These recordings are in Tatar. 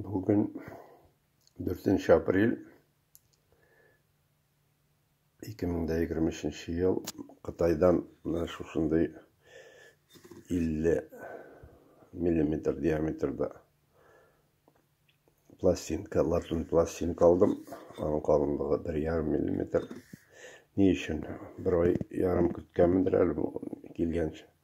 Бүген 4 апрель 2023 ел Кытайдан менә шушындый 50 миллиметр диаметрда пластинка, латун пластинка алдым. Аның калынлыгы 1,5 миллиметр. Ни өчен? Бер ай ярым көткәнмендер әле бу килгәнче.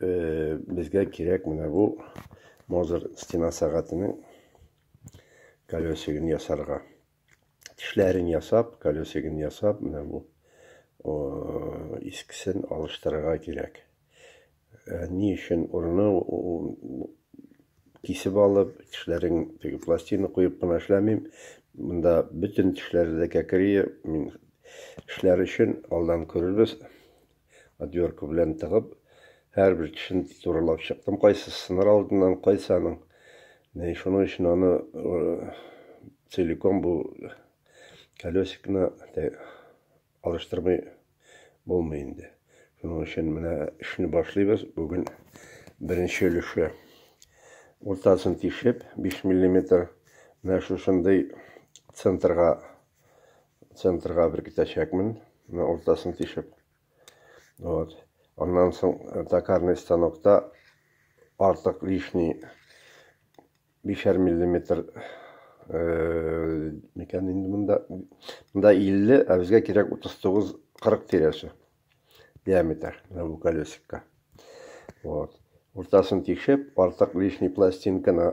безгә кирәк менә бу мозер стена сәгатенең колесигын ясарга тешләрен ясап колесигын ясап менә бу искесен алыштырырга кирәк ә, ни өчен урыны кисеп алып тешләрен теге пластина куеп кына эшләмим монда бөтен тешләре дә кәкрие мин эшләр өчен алдан күрербез Отвёрка белән тыгып, һәрбер тешен турылап чыктым. Кайсы сыныр алдыннан, кайсы аның. Менә шуның өчен аны целиком бу колесикны алыштырмый булмый инде. Шуның өчен менә эшне башлыйбыз. Бүген беренче өлеше. Уртасын тишеп, 5 мм менә шушындый центрга центрга беркетәчәкмен, менә уртасын тишеп. Вот. Аннан соң э, токарный станокта артык лишний бишәр миллиметр э, микән инде монда монда 50, ә безгә кирәк 39-40 тирәсе диаметр менә бу колесикка. Вот. Уртасын тишеп, артык лишний пластинканы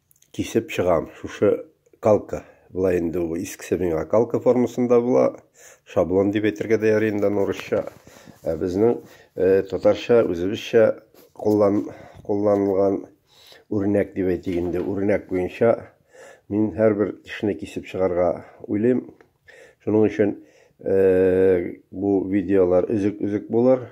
Кисеп чыгам. Шушы калка. Була инде ул искесе миңа калка формасында була. Шаблон дип әйтергә дә ярый инде урысча. Ә безнең э, татарча, үзебезчә куллан, кулланылган үрнәк дип әйтик инде. Үрнәк буенча мин һәрбер тешне кисеп чыгарга уйлыйм. Шуның өчен э, бу видеолар өзек-өзек булыр.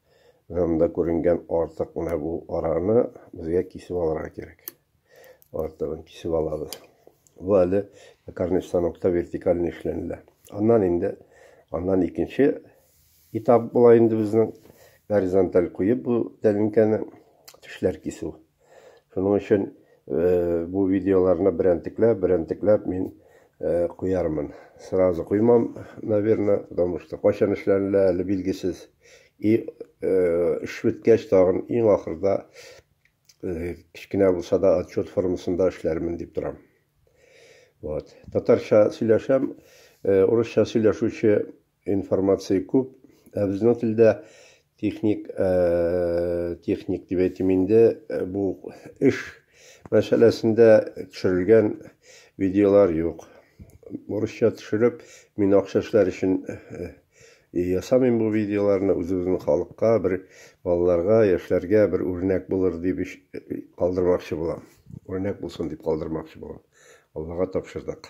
Анда күренгән артык менә бу араны безгә кисеп алырга кирәк. Артыгын кисеп алабыз. Бу әле токарный станокта вертикаль эшләнелә. Аннан инде аннан икенче этап була инде безнең горизонталь куеп бу тәлинкәне тешләр кисү. Шуның өчен бу видеоларны берәнтекләп, берәнтекләп мин куярмын. Сразу куймам, наверное, потому что кайчан эшләнелә әле билгесез. И эш беткәч тагын иң ахырда кечкенә булса да отчет формасында эшләрмен дип торам. Вот. Татарча сөйләшәм, урысча сөйләшүче Информация күп, ә безнең телдә техник, техник дип әйтим инде, бу эш мәсьәләсендә төшерелгән видеолар юк. Урысча төшереп, мин акча эшләр өчен ясамыйм бу видеоларны, үзебезнең халыкка, бер балаларга, яшьләргә бер үрнәк булыр дип калдырмакчы булам. Үрнәк булсын дип калдырмакчы булам. Аллага тапшырдык.